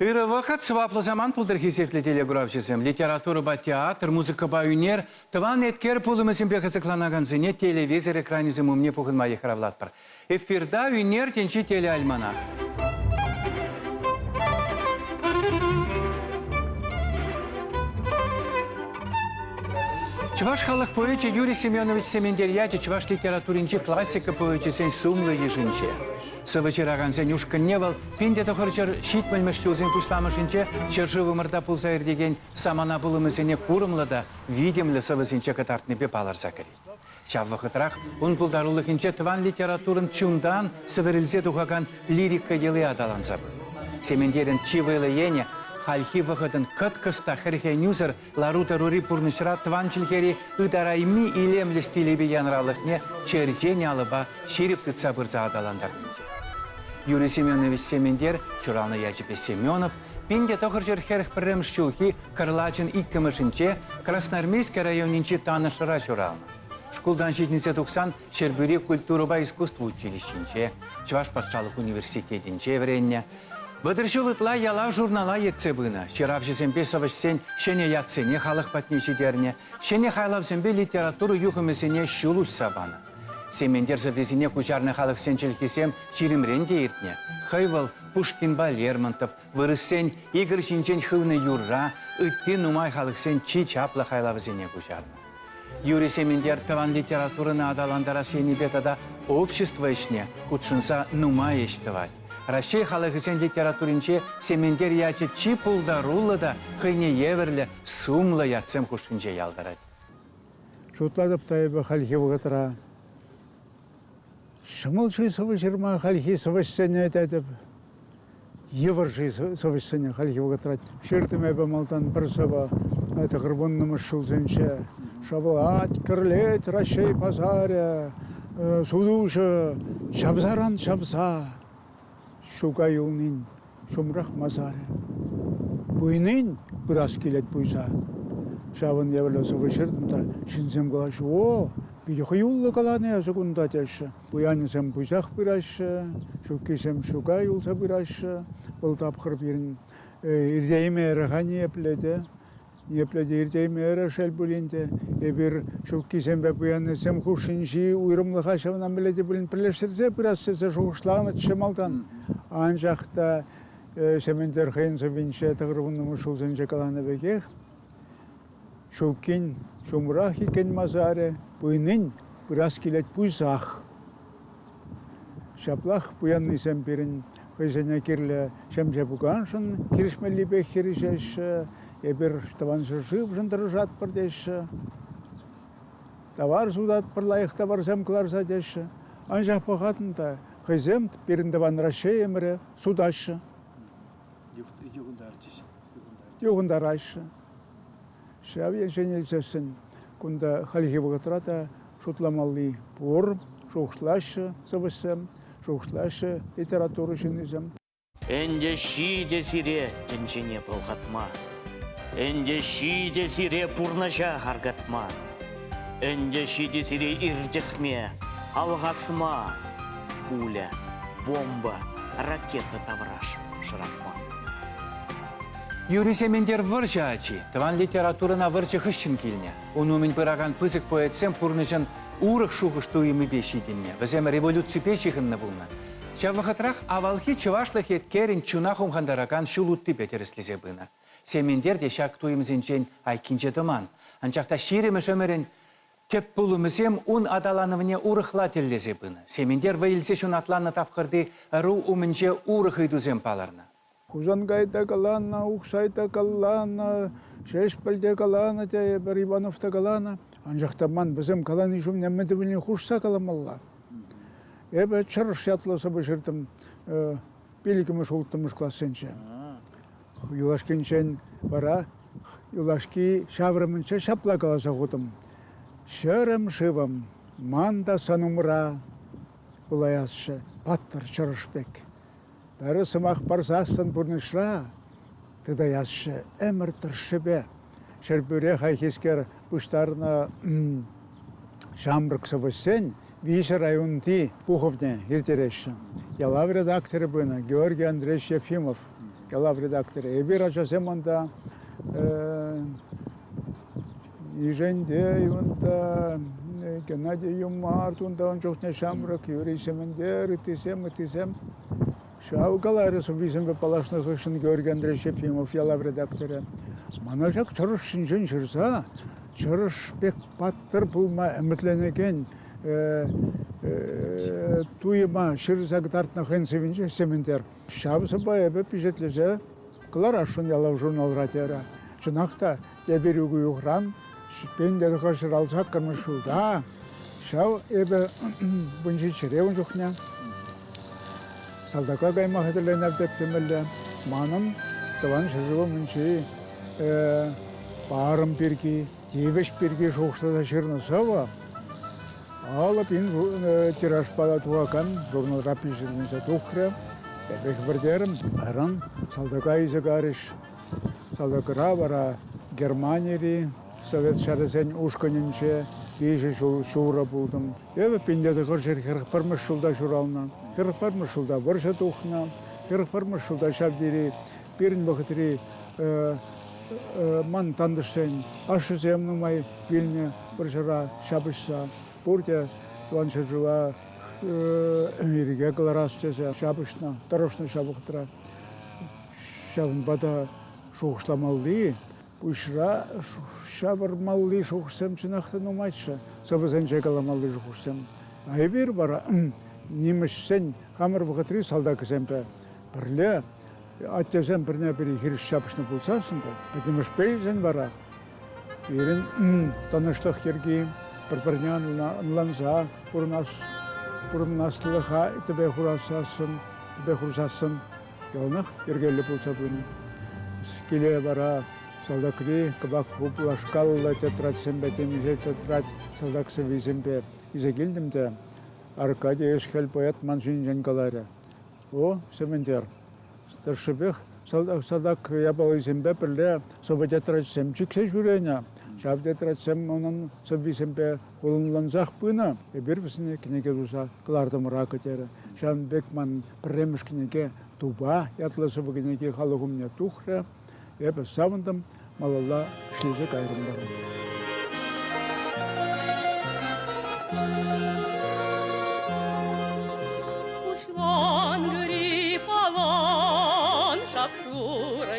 Ырӑ вӑхӑт, сӑваплӑ самант пултӑр хисеплӗ телеграфҫӑсем! Литературӑпа театр, музыкӑпа ӳнер, тӑван эткер пулӑмӗсемпе кӑсӑкланакансене телевизор экранӗсем умне пухӑнма йыхравлатпӑр. Эфирта Ӳнер тӗнчи телеальманах. Чӑваш халӑх поэчӗ Юрий Семенович Сементер ячӗ чӑваш литературинчи классика поэчӗсен сумлӑ йышӗнче. Сӑвӑ ҫыракансен ушкӑнне вӑл пин те тӑхӑрҫӗр ҫитмӗлмӗш ҫулсен пуҫламӑшӗнче ҫӗршывӑмӑрта пулса иртекен самана пулӑмӗсене курӑмлӑ та витӗмлӗ сӑвӑсенче кӑтартнипе палӑрса кӗрет. Ҫав вӑхӑтрах ун пултарулӑхӗнче тӑван литературӑн чунтан сӗвӗрӗлсе тухакан лирика йӑли аталанса пынӑ. Сементерӗн чи вӑйлӑ енӗ хальхи вӑхӑтӑн кӑткӑс та хӗрхенӳсӗр Лару-тӑрури пурнӑҫра тӑван чӗлхери ытарайми илемлӗ стилӗпе янралӑхне черчен алӑпа ҫирӗп тытса пырса аталантарнинче. Юрий Семенович Сементер ҫуралнӑ ячӗпе Семенов пин те тӑхӑрҫӗр хӗрӗх пӗрремӗш ҫулхи кӑрлачӑн иккӗмӗшӗнче Красноармейски районӗнчи Танӑшра ҫуралнӑ. Шкултан ҫитӗнсе тухсан Ҫӗрпӳри культурӑпа искусство училищинче, Чӑваш патшалӑх университетӗнче вӗреннӗ. Вӑтӑр ҫул ытла яла-журнала ертсе пынӑ, ҫыравҫӑсемпе сӑвӑҫсен ҫӗнӗ ятсене халӑх патне ҫитернӗ, ҫӗнӗ хайлавсемпе литература юхӑмӗсене ҫул уҫса панӑ. Сементер сӑввисене куҫарнӑ халӑхсен чӗлхисем ҫирӗмрен те иртнӗ. Хӑй вӑл Пушкинпа Лермонтов, вырӑссен Игорь ҫинчен хывнӑ юрра, ытти нумай халӑхсен чи чаплӑ хайлавӗсене куҫарнӑ. Юрӑ-сементер тӑван литературӑна аталантарас енӗпе тата общество ӗҫне хутшӑнса нумай ӗҫ тӑвать. Раҫҫей халӑхӗсен литературинче Сементер ячӗ чи пултаруллӑ та хӑйне евӗрлӗ сумлӑ ятсем хушшинче ялтӑрать. Шутлатӑп та эпӗ хальхи вӑхӑтра. Ҫӑмӑл-ши сӑвӑ ҫырма хальхи сӑвӑҫсене тетӗп. Йывӑр-ши сӑвӑҫсене хальхи вӑхӑтра? Ҫыртӑм эпӗ малтан пӗр сӑвӑ тӑхӑр вуннӑмӗш ҫулсенче. Шавлать, кӗрлет Раҫҫей пасарӗ, сутуҫӑ, Чавсаран чавса. Ҫука юлнин ҫумрах масарӗ. Пуйнин пырас килет пуйса. Ҫавӑн евӗрлӗ сӑвӑ ҫыртӑм та ҫынсем калаҫҫӗ, о, питӗ хӑюллӑ каланӑ эсӗ кунта теҫҫӗ. Пуянӗсем пучах пыраҫҫӗ, ҫуккисем ҫука юлса пыраҫҫӗ. Вӑл тапхӑр пирӗн иртеймерӗ-ха ниепле те. Ниепле те иртеймерӗ, шел пулин те. Эпир ҫуккисемпе пуяннисем хушшинчи уйрӑмлӑха ҫавна мӗнле те пулин пӗрлештерсе пырас тесе шухӑшланӑччӗ малтан. Анчах та Сементер хӑйӗн сӑввинче тӑхӑрвуннӑмӗш ҫулсенче каланӑ пекех ҫуккин ҫумрах иккен масарӗ, пуйнин пырас килет пуйсах. Ҫаплах пуяннисем пирӗн хӑйсене кирлӗ ҫемҫе пуканшӑн килӗшмеллипех хирӗҫеҫҫӗ. Эпир тӑван ҫӗршывшӑн тӑрӑшатпӑр теҫҫӗ. Тавар сутатпӑр, лайӑх таварсем кӑларса теҫҫӗ. Анчах пӑхатӑн та хӑйсем пирӗн тӑван Раҫҫейӗмӗре сутаҫҫӗ. Юхӑнтарчӗҫ. Юхӑнтараҫҫӗ. Ҫав енчен илсессӗн кунта хальхи вӑхӑтра та шутламалли пур, шухӑшлаҫҫӗ сӑвӑҫсем, шухӑшлаҫҫӗ литература ҫыннисем. Ӗнтӗ ҫитӗ сире тӗнчене пӑлхатма, ӗнтӗ ҫитӗ сире пурнӑҫа аркатма, ӗнтӗ ҫитӗ сире иртӗхме, алхасма пуля, бомба, ракета тавраш шӑратма. Юрисем ӗнтер вӑрҫӑ ачи. Тӑван литературӑна вӑрҫӑ хыҫҫӑн килнӗ. Ун умӗн пыракан пысӑк поэтсем пурнӑҫӑн урӑх шухӑш-туйӑмӗпе ҫитӗннӗ, вӗсем революципе ҫыхӑннӑ пулнӑ. Ҫав вӑхӑтрах авалхи чӑвашлӑх еткерӗн чуна хумхантаракан ҫул уттипе тӗрӗслесе пынӑ. Сементер те ҫак туйӑмсенчен айккинче тӑман. Анчах та ҫирӗмӗш ӗмӗрӗн тӗп пулӑмӗсем ун аталанӑвне урӑхла тӗллесе пынӑ. Сементер вӑй илсе ҫунатланнӑ тапхӑрти ӑру умӗнче урӑх ыйтусем палӑрнӑ. Хусанкай та каланӑ, Ухсай та каланӑ, Ҫеҫпӗл те каланӑ, тейӗпӗр, Иванов та каланӑ. Анчах та ман вӗсем калани ҫумне мӗн тӗлне хушса каламалла? Эпӗ Чӑрӑш ятлӑ сӑвӑ ҫыртӑм пиллӗкмӗш, улттӑмӗш классенче. Юлашкинчен вара юлашки ҫаврӑмӗнче ҫапла каласа хутӑм. Ҫӗрӗм шывӑм, ман та сан умра пулаясчӗ, паттӑр чӑрӑш пек. Ырӑ сӑмах парсассӑн пурнӑҫра тытаясчӗ ӗмӗр тӑршшӗпе. Ҫӗрпӳре хайхискер пуҫтарнӑ ҫамрӑк сӑвӑҫсен виҫӗ районти пухӑвне иртереҫҫӗ. Ялав редакторӗ пынӑ Георгий Андреевич Ефимов. Ялав редакторӗ. Эпир, ачасем, унта Ишентей унта, Геннадий Юмарт унта ун чухне ҫамрӑк юрӑҫсемӗнтер, ыттисем, ыттисем. Ҫав каларӗ сӑввисемпе паллашнӑ хыҫҫӑн Георгий Андреевич Ефимов ялав редакторӗ. Мана ҫак чӑрӑш ҫинчен ҫырса чӑрӑш пек паттӑр пулма ӗмӗтленекен туйӑма ҫырса кӑтартнӑ хӑйӗн сӑввинче ӗҫлемӗнтер. Ҫав сӑвва эпӗ пичетлесе кӑларасшӑн ялав журналра терӗ. Чӑнах та Эпир Угуюхран Ҫитпендер хӑш шӑралсаккӑрмӗш ҫулта, ҫав эпӗ вунҫиччӗре ун чухне, салтака кайма хатӗрленер теттӗмӗлле, манӑн тӑван ҫӗршывӑмӗнчи парӑм пирки, тивӗҫ пирки шухӑшласа ҫырнӑ сӑвӑ алӑ пин тиражпа тухакан журналра пичетленсе тухрӗ. Эпӗ хӗпӗртерӗм, ыран салтака илсе карӗҫ, Кӑлӑкра вара Германири Совет ҫарӗсен ушкӑнӗнче виҫӗ ҫул ҫурӑ пултӑм. Эпӗ Пинлетӑкӑр ҫӗр хӗрӗхпӗрмӗш ҫулта ҫуралнӑ. Хӗрӗхпӗрмӗш ҫулта вӑрҫӑ тухнӑ. Хӗрӗхпӗрмӗш ҫулта ҫав тери пирӗн вӑхӑтри ман тантӑшсен ашшӗсем нумай вилнӗ вӑрҫӑра ҫапӑҫса. Пурте Тӑван ҫӗршыва ирӗке кӑларас тесе ҫапӑҫнӑ, тӑрӑшнӑ ҫав вӑхӑтра. Ҫавӑнпа та шухӑшламалли, пуҫра ҫавӑрмалли шухӑшсем чӑнах та нумайччӗ. Сӑвӑсенче каламалли шухӑшсем. А эпир вара нимӗҫсен хамӑр вӑхӑтри салтакӗсемпе пӗрле аттесем пӗрне-пӗри хирӗҫ ҫапӑҫнӑ пулсассӑн та пӗтӗмӗшпе илсен вара пирӗн тӑнӑҫлӑх йӗрки пӗр-пӗрне ӑнланса пурӑнаслӑха тӗпе хурасассӑн, тӗпе хурсассӑн яланах йӗркеллӗ пулса пынӑ. Киле вара салтакри кӑвак хуплашкаллӑ тетрадьсемпе темиҫе тетрадь салтак сӑввисемпе илсе килтӗм те Аркадий ӗҫхӗл поэт ман ҫинчен каларӗ. О, Сементер, тӑршшӗпех салтак-салтак япалисемпе пӗрле сӑвӑ-тетрадьсем чиксе ҫӳренӗ. Ҫав тетрадьсем унӑн сӑввисемпе Хулӑнлансах пынӑ. Эпир вӗсене кӗнеке туса кӑлартӑмӑра кӗтерӗ. Ҫавӑн пек ман пӗрремӗш кӗнеке Тупа ятлӑ сӑвӑ-кӗнеке халӑх умне тухрӗ. Эпӗ савӑнтӑм, малалла ӗҫлесе кайрӑм вара. Пуҫлан гриппалан шап-шурӑ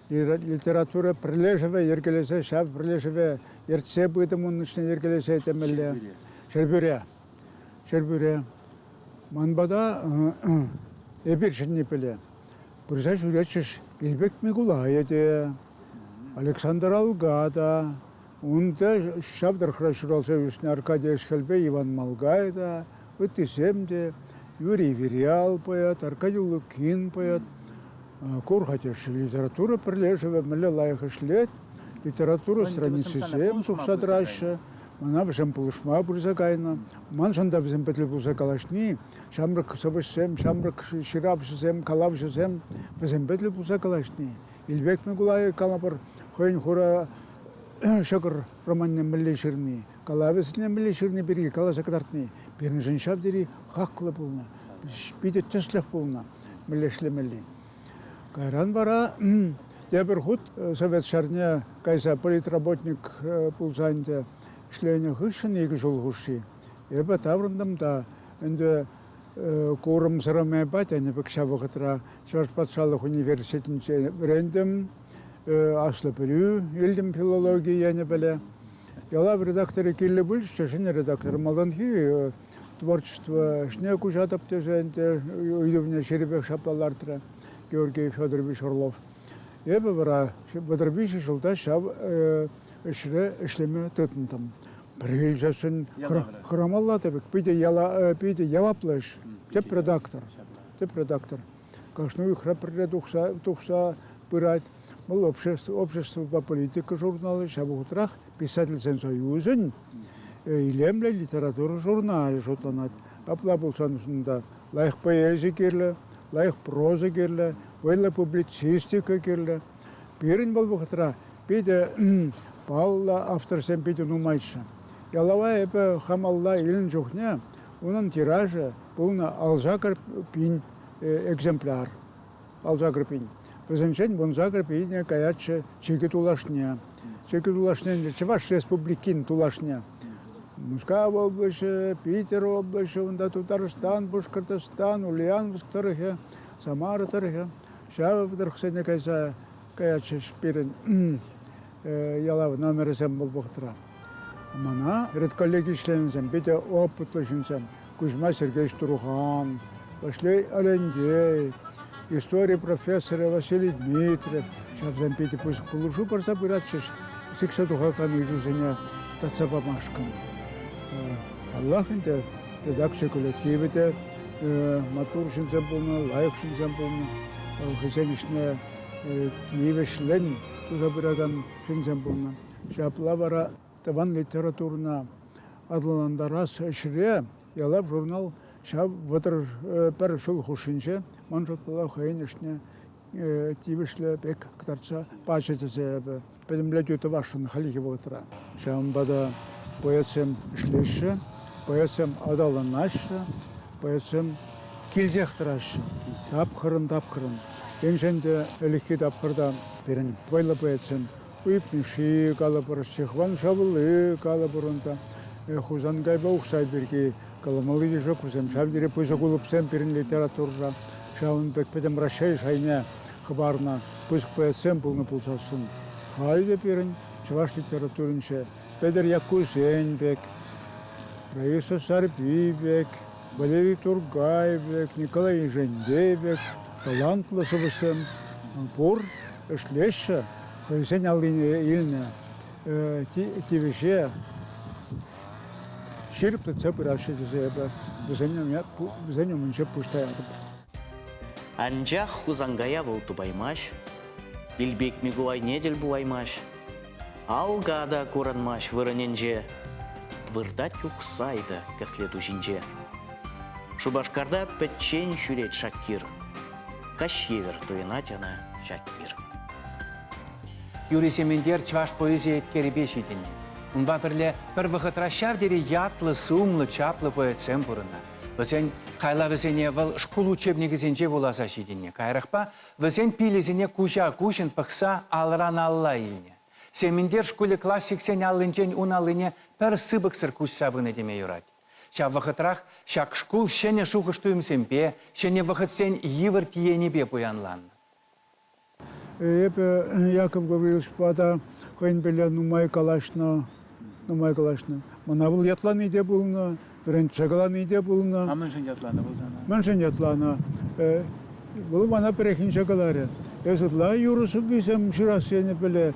Литература пӗрлешӗвӗ йӗркелесе ҫав пӗрлешӗве ертсе пытӑм ун ӗҫне йӗркелесе темелле. Ҫӗрпӳре. Ҫӗрпӳре. Ман пата эпир ҫӗнни пӗле. Пырса ҫӳретчӗҫ Илпек Микулайӗ те, Александр Алга та, Унта ҫав тӑрӑхра ҫуралса ӳснӗ Аркадий ӗҫхӗлпе Иван Малгай та, ыттисем те, Юрий Вирял поэт, Аркадий Улукин поэт, Кур Хатеши литература пӗрлешӗвӗ мӗнле лайӑх ӗҫлет, литература страницисем тухса тӑраҫҫӗ. Мана вӗсем пулӑшма пырса кайнӑ. Маншӑн та вӗсем пӗтӗм пулса калаҫни, ҫамрӑк сӑвӑҫсем, ҫамрӑк ҫыравҫӑсем, калавҫӑсем, вӗсемпе тӗл пулса калаҫни Илпек Микулайӗ калӑпӑр хӑйӗн хура ҫӑкӑр романне мӗнле ҫырни, калавӗсене мӗнле ҫырни пирки каласа кӑтартни пирӗншӗн ҫав тери хаклӑ пулнӑ, питӗ тӗслӗх пулнӑ мӗнле ӗҫлемелли. Кайран вара тепӗр хут совет ҫарне кайса политработник пулса ӗнтӗ ӗҫленӗ хыҫҫӑн икӗ ҫул хушши эпӗ таврӑнтӑм та ӗнтӗ курӑмсӑрӑмӗпе тенӗ пек ҫав вӑхӑтра Чӑваш патшалӑх университетӗнче вӗрентӗм, аслӑ пӗлӳ илтӗм филологи енӗпеле. Ялав редакторӗ киле пулчӗ, ҫӗнӗ редактор малтанхи творчество ӗҫне куҫатӑп тесе ӗнтӗ ыйтӑвне ҫирӗпех ҫапла лартрӗ Георгий Федорович Орлов. Эпӗ вара вӑтӑр виҫӗ ҫулта ҫав ӗҫре ӗҫлеме тытӑнтӑм. Пӗр ӗҫӗшӗн хӑрамалла тӗпӗк. Питӗ, яла, питӗ яваплӑ ӗҫ. Тӗп редактор. Тӗп редактор. Кашни уйӑхра пӗрре тухса, тухса пырать. Вӑл общество, обществӑпа политика журналы, ҫав вӑхӑтрах писательсен союзӗн илемлӗ литература журналӗ шутланать. Апла пулсан унта лайӑх поэзи кирлӗ, лайӑх проза кирлӗ, вӑйлӑ публицистика кирлӗ. Пирӗн вӑл вӑхӑтра питӗ паллӑ авторсем питӗ нумайччӗ. Ялава эпӗ хамалла илнӗ чухне унӑн тиражӗ пулнӑ алсакӑр пин экземпляр. Алсакӑр пин. Вӗсенчен вунсакӑр пине каятчӗ чикӗ тулашне. Чикӗ тулашне Чӑваш Республикин тулашне. Мускав облаҫӗ, Питӗр облаҫӗ, унта Тутарстан, Пушкӑртстан, Ульяновск тӑрӑхӗ, Самара тӑрӑхӗ. Ҫав тӑрӑхсене кайса каятчӗҫ пирӗн ялав номерӗсем вӑл вӑхӑтра. Мана редколлеги членӗсем, питӗ опытлӑ ҫынсем, Кузьма Сергеевич Турухан, Ваҫлей Алендей, истори профессорӗ Василий Дмитриев, ҫавсем питӗ пысӑк пулӑшу парса пыратчӗҫ сиксе тухакан ыйтусене татса памашкӑн. Паллах ӗнтӗ, редакци коллективӗ те маттур ҫынсем пулнӑ, лайӑх ҫынсем пулнӑ. Хӑйсен ӗҫне тивӗҫлӗн туса пыракан ҫынсем пулнӑ. Ҫапла вара тӑван литературӑна аталантарас ӗҫре Ялав журнал ҫав вӑтӑр пӗр ҫул хушшинче ман шутпала хӑйӗн ӗҫне тивӗҫлӗ пек кӑтартса пачӗ тесе эпӗ пӗтӗмлетӳ тӑвасшӑн хальхи вӑхӑтра. Ҫавӑнпа та поэтсем ӗҫлеҫҫӗ, поэтсем аталанаҫҫӗ, поэтсем килсех тӑраҫҫӗ тапхӑрӑн-тапхӑрӑн. Енчен те ӗлӗкхи тапхӑрта пирӗн вӑйлӑ поэтсем Уйӑп Мишши калӑпӑр, Ҫыхван Шавлы калӑпӑр унта, Хусанкайпа Ухсай пирки каламалли те ҫук, вӗсем ҫав тери пысӑк улӑпсем пирӗн литературӑра. Ҫавӑн пек пӗтӗм Раҫҫей шайне Хӑпарнӑ пысӑк поэтсем пулнӑ пулсассӑн, халӗ те пирӗн чӑваш литературинче Петӗр Яккусен пек, Раиса Сарпи пек, Валерий Тургай пек, Николай Ишентей пек талантлӑ сӑвӑҫсем пур, ӗҫлеҫҫӗ, хӑйсен аллине илнӗ тивӗҫе ҫирӗплетсе пыраҫҫӗ тесе эпӗ вӗсен умӗнче пуҫ таятӑп. Анчах Хусанкая вӑл тупаймасть, Илпек Микулайне тӗл пулаймасть, Алка та курӑнмасть вырӑнӗнче, выртать Ухсай та кӗсле ту ҫинче. Шупашкарта пӗччен ҫӳрет Шакир, каҫ евер туйӑнать ӑна Шакир. Юрий Сементер чӑваш поэзи еткерӗпе ҫитӗннӗ. Унпа пӗрле пӗр вӑхӑтра ҫав тери ятлӑ-сумлӑ, чаплӑ поэтсем пурӑннӑ. Вӗсен хайлавӗсене вӑл шкул учебникӗсенче вуласа ҫитӗннӗ. Каярахпа вӗсен пилӗсене куҫа-куҫӑн пӑхса алран-алла илнӗ. Сементер шкулӗ классиксен аллинчен ун аллине пӗр сыпӑксӑр куҫса пынӑ теме юрать. Ҫав вӑхӑтрах ҫак шкул ҫӗнӗ шухӑш-туйӑмсемпе, ҫӗнӗ вӑхӑтсен йывӑр тиенӗпе пуянланнӑ. Эпӗ Яков Гавриловичпа та хӑйӗн пӗрле нумай калаҫнӑ, нумай калаҫнӑ. Мана вӑл ятлани те пулнӑ, вӗрентсе калани те пулнӑ. А мӗншӗн ятланӑ вӑл сана? Мӗншӗн ятланӑ? Вӑл мана пӗррехинче каларӗ, эс ытла юрӑ сӑввисем ҫырас енӗ пӗле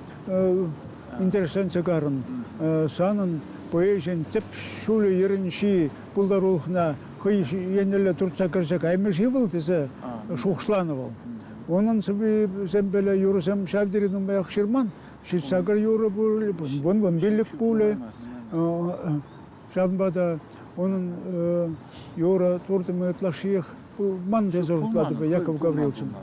интересленсе карӑн. Санӑн поэзин тӗп ҫулӗ-йӗрӗнчи пултарулӑхна хӑй еннелле туртса кӗрсе каймӗ-ши вӑл тесе шухӑшланӑ вӑл. Унӑн сӑввисемпеле юрӑсем ҫав тери нумаях ҫырман. Ҫитсакӑр юрӑ пулӗ, вун-вун пиллӗк пулӗ. Ҫавӑнпа та унӑн юрӑ туртӑмӗ ытлашшиех пулман тесе шутлатӑп Яков Гавриловичӑн.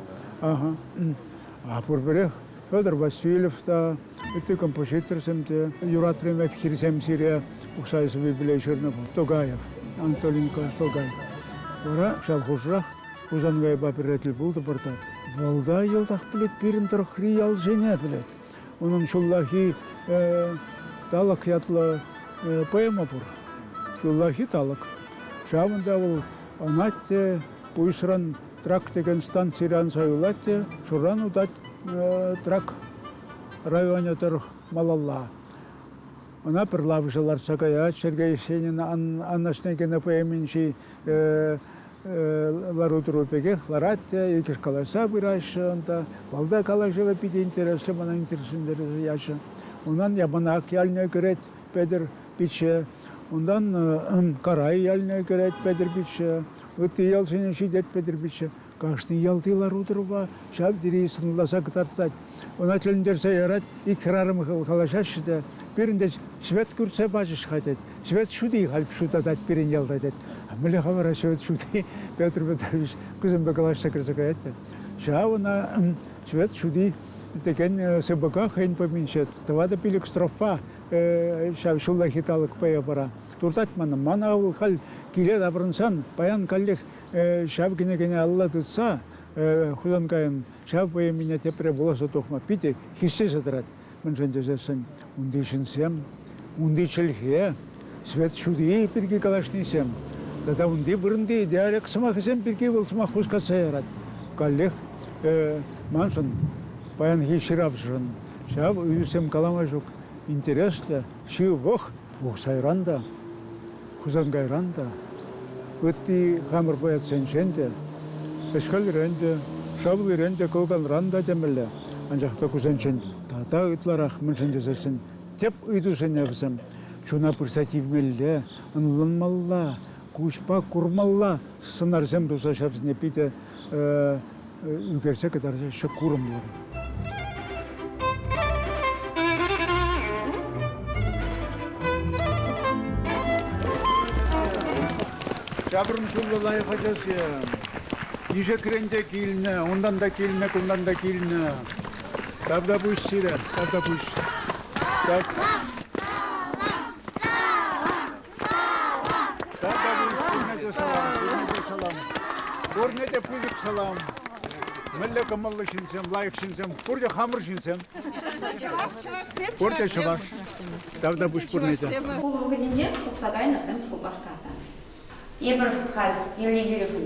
А пурпӗрех Федор Васильев та, ытти композиторсем те юратрӗ пек хирсем сире Ухсай сӑввипеле ҫырнӑ Тогаев, Анатолий Николаевич Тогаев. Вара ҫав хушӑрах Хусанкайпа пӗрре тӗл пултӑмӑр та вӑл та йӑлтах пӗлет пирӗн тӑрӑхри ялсене пӗлет. Унӑн ҫуллахи Талӑк ятлӑ поэма пур. Ҫуллахи талӑк. Ҫавӑнта вӑл ӑнать те пуйӑсран трак текен станцире анса юлать те шуран утать трак районӗ тӑрӑх малалла. Ӑна пӗрлавӑшӗ лартса каять. Сергей Евсенин Анашнекино поэминчи лару-тӑру пекех ларать те, иккӗш калаҫса пыраҫҫӗ унта. Малта калаҫӑвӗ питӗ интереслӗ, мана интереслентерсе ячӗ. Унан Япӑнак ялне кӗрет Петӗр пичче, унтан Карай ялне кӗрет Петӗр пичче, ытти ялсене ҫитет Петӗр пичче. Кашни ялти лару-тӑрӑва ҫав тери сӑнласа кӑтартать. Ӑна тӗлӗнтерсе ярать, ик хӗрарӑм калаҫаҫҫӗ те, пирӗн тет, Свет кӳртсе пачӗҫ-ха, тет. Свет ҫути халь ҫутатать пирӗн ялта, тет. Мӗнле-ха вара Свет ҫути, Петр Петрович кусемпе калаҫса кӗрсе каять те. Ҫав ӑна Свет ҫути текен сыпӑка хӑйӗн поминче тӑватӑ пилӗк строфа ҫав ҫуллахи талӑк пая пара. Туртать мана. Мана вӑл халь киле таврӑнсан паян каллех ҫав кӗнекене алла тытса Хусанкайӑн ҫав поэмине тепре вуласа тухма питӗ хистесе тӑрать. Мӗншӗн тесессӗн унти ҫынсем, унти чӗлхе, свет ҫути пирки калаҫнисем тата унти вырӑнти диалект сӑмахӗсем пирки вӑл сӑмах хускатса ярать. Каллех маншӑн, паянхи ҫыравҫӑшӑн ҫав ыйтусем калама ҫук интереслӗ, ҫывӑх, Ухсайран та, Хусанкайран та, ытти хамӑр поэтсенчен те, ӗҫхӗлрен те, шаллирен те, кӑлканран та темелле, анчах та кусенчен тата ытларах мӗншӗн тесессӗн тӗп ыйтусене вӗсем чуна пырса тивмелле, ӑнланмалла, куҫпа курмалла сӑнарсем туса ҫавсене питӗ ӳкерсе кӑтарса ҫӑк курӑмлӑ. Ҫаврӑнҫуллӑ лайӑх ачасем. Ишекрен те килнӗ, унтан та килнӗ, кунтан та килнӗ. Тавтапуҫ сире, тавтапуҫ. Тав. Тата пурне те салам, пурне те салам. Пурне те пысӑк салам. Мӗнле кӑмӑллӑ ҫынсем, лайӑх ҫынсем, пурте хамӑр ҫынсем. Чӑваш, чӑвашсем, Пурте чӑваш. Тавтапуҫ пурне те. Пулӑ кунӗнче тухса кайнӑсем Шупашкарта. Эпир халь, Еллӗ-Юрӗшӗн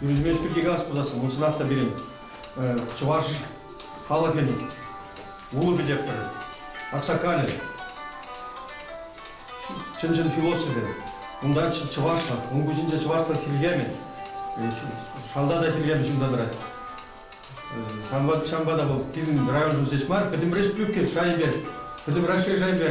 Пирӗнпе пирки калас пулас, унсӑрах та пирӗн чӑваш халӑхӗн вулӑ пӗтертӗр, аксакалӗ, чӑн-чӑн философӗ. Унта чӑвашлӑх, ун куҫӗнче чӑвашлӑх хиркемӗ, шалта та хиркем ҫунса тӑрать. Ҫавӑнпа, ҫавӑнпа та вӑл пирӗн районшӑн ҫеҫ мар, пӗтӗмрех Плюкет шайӗнче, пӗтӗм Раҫҫей шайӗнче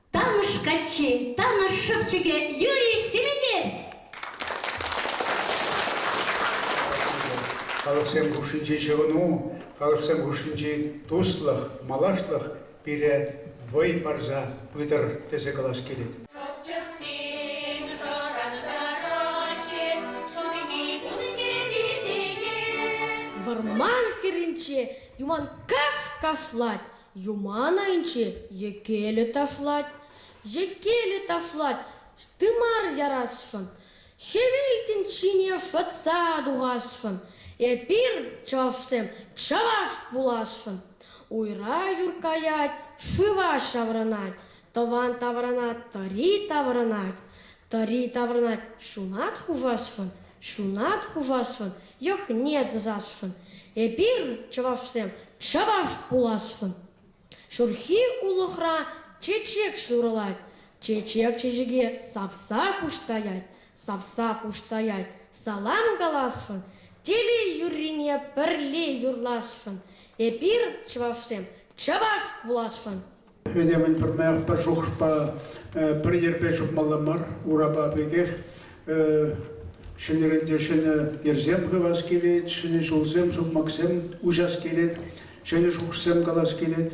Танӑш каччи, Танӑш шӑпчӑкӗ Юрий Семенер! Халӑхсем хушшинчи ҫӑвӑну, халӑхсем хушшинчи туслӑх, малашлӑх пире вӑй парса пытӑр тесе калас килет. Шӑпчӑксем шӑрантараҫҫӗ ҫурхи кунсенче. Вӑрман хӗрринче юман каш кашлать, Юман айӗнче йӗкелӗ ташлать. Йӗкелӗ ташлать тымар ярасшӑн. Хӗвелтен ҫине шӑтса тухасшӑн. Эпир, чӑвашсем, чӑваш пуласшӑн. Уйра юр каять, шыва ҫаврӑнать. Тӑван таврана тӑри таврӑнать, тӑри таврӑнать ҫунат хушасшӑн, ҫунат хушасшӑн, йӑхне тӑсасшӑн. Эпир, чӑвашсем, чӑваш пуласшӑн. Ҫурхи улӑхра чечек ҫурӑлать, чечек чечеке савса пуҫтаять, савса пуҫтаять, салам каласшӑн, телей-юррине пӗрле юрласшӑн. Эпир, чӑвашсем, чӑваш пуласшӑн. Этемӗн пӗрмаях пӗр шухӑшпа, пӗр йӗрпе чупмалла мар, урапа пекех. Ҫӗнӗрен те ҫӗнӗ йӗрсем хывас килет, ҫӗнӗ ҫулсем, сукмаксем уҫас килет, ҫӗнӗ шухӑшсем калас килет.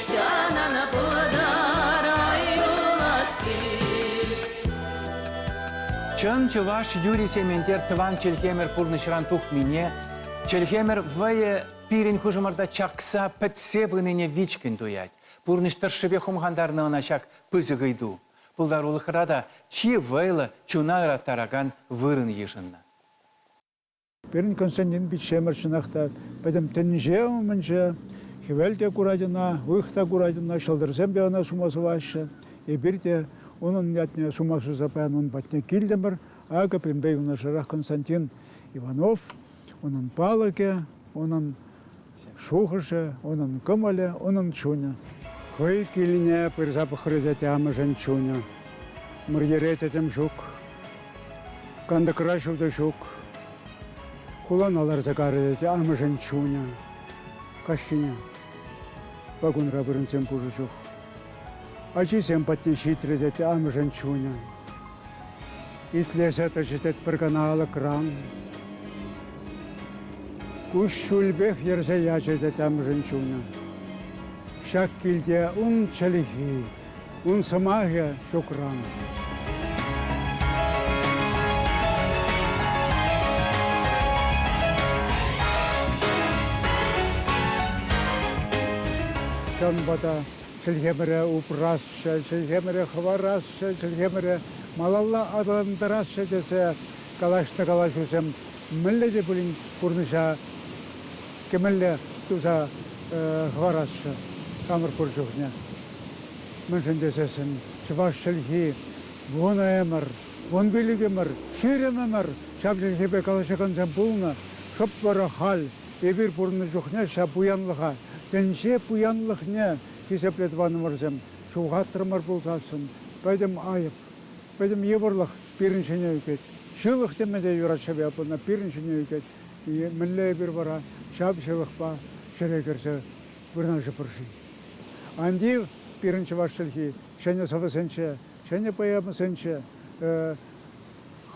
Ҫанана пытарай юлашки. Чӑн чӑваш юрри-сементер тӑван чӗлхемӗр пурнӑҫран тухнине, чӗлхемӗр вӑйӗ пирӗн хушӑмӑрта чакса, пӗтсе пынине вичкӗн туять. Пурнӑҫ тӑршшӗпе хумхантарнӑ ӑна ҫак пысӑк ыйту. Пултарулӑхра та чи вӑйлӑ, чуна ыраттаракан вырӑн йышӑннӑ. Пирӗн Константин пиччемӗр чӑнах та пӗтӗм тӗнче умӗнче. Хӗвел те курать ӑна, уйӑх та курать ӑна, ҫӑлтӑрсем те ӑна сума сӑваҫҫӗ. Эпир те унӑн ятне сума суса паян ун патне килтӗмӗр. Акӑ пирӗнпе юнашарах Константин Иванов, унӑн палӑкӗ, унӑн Шухӑшӗ, унӑн кӑмӑлӗ, унӑн чунӗ. Хӑй килне пырса пӑхрӗ те амӑшӗн чунӗ. Мӑрьере тӗтӗм ҫук, кантӑкра ҫутӑ ҫук. Хулана ларса карӗ те амӑшӗн чунӗ. Каҫхине вагонра вырӑнсем пушӑ чух Ачисем патне ҫитрӗ, тет амӑшӗн чунӗ. Итлесе тӑчӗ, тет, пӗр кана алӑкран. Куҫҫульпех йӗрсе ячӗ, тет амӑшӗн чунӗ. Ҫак килте ун чӗлхи, ун сӑмахӗ ҫукран. Ҫавӑнпа та Чӗлхемӗре упрасчӗ, чӗлхемӗре хӑварасчӗ, чӗлхемӗре малалла аталантарасчӗ тесе калаҫнӑ калаҫусем мӗнле те пулин пурнӑҫа кӗмелле туса хӑварасчӗ хамӑр пур чухне. Мӗншӗн тесессӗн чӑваш чӗлхи вунӑ ӗмӗр, вун пилӗк ӗмӗр, ҫирӗм ӗмӗр ҫав чӗлхепе калаҫакансем пулнӑ, шӑп вара халь Эпир пурӑннӑ чухне ҫав пуянлӑха, тӗнче пуянлӑхне хисепле тӑванӑмӑрсем, ҫухатрӑмӑр пулсассӑн, пӗтӗм айӑп, пӗтӗм йывӑрлӑх пирӗн ҫине ӳкет. Ҫылӑх теме те юрать ҫав япӑна, пирӗн ҫине ӳкет. Мӗнле эпир вара ҫав ҫылӑхпа ҫӗре кӗрсе вырнаҫӑпӑр-ши? Ан тив, пирӗн чӑваш чӗлхи ҫӗнӗ сӑвӑсенче, ҫӗнӗ поэмӑсенче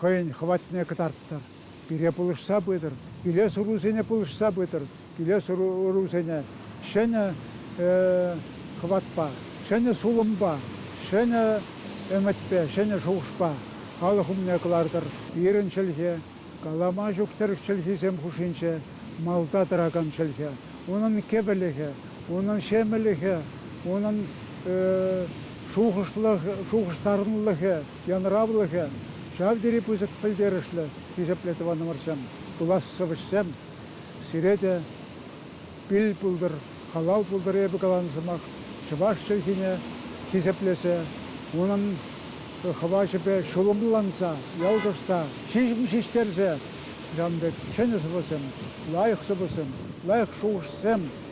хӑйӗн хӑватне кӑтарттӑр. Пире пулӑшса пытӑр, килес-ӑрусене пулӑшса пытӑр, килес-ӑрусене ҫӗнӗ хӑватпа, ҫӗнӗ сулӑмпа, ҫӗнӗ ӗмӗтпе, ҫӗнӗ шухӑшпа халӑх умне кӑлартӑр. Пирӗн чӗлхе, калама ҫук тӗрӗк чӗлхисем хушшинче малта тӑракан чӗлхе, унӑн кӗвӗлӗхӗ, унӑн ҫемӗлӗхӗ, унӑн шухӑшлӑх, шухӑштарӑнлӑхӗ, Янӑравлӑхӗ, ҫав тери пысӑк пӗлтерӗшлӗ, хисеплӗ тӑванӑмӑрсем, пулас сӑвӑҫсем. Сире те пил пултӑр, халал пултӑр эпӗ каланӑ сӑмах чӑваш чӗлхине хисеплесе, унӑн хӑвачӗпе ҫулӑмланса, ялкӑшса, ҫиҫтерсе, ҫавӑн пек чӗнӗ сӑвӑсем, лайӑх сӑвӑсем, лайӑх шухӑшсем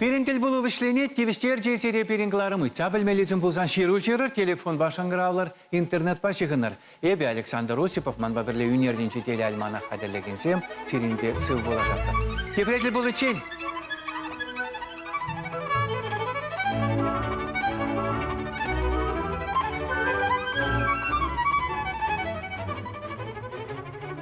Пирӗн тӗлпулу вӗҫленет, тивӗҫтерчӗ сире пирӗн кӑларӑм. Ыйтса пӗлмеллисем пулсан ҫыру ҫырӑр, телефонпа шӑнкӑравлӑр, интернетпа ҫыхӑнӑр. Эпӗ, Александр Осипов, манпа пӗрле ӳнернинчи телеальманах хатӗрлекенсем, сирӗнпе сыв пулашатпӑр. Тепре тӗл пуличчен!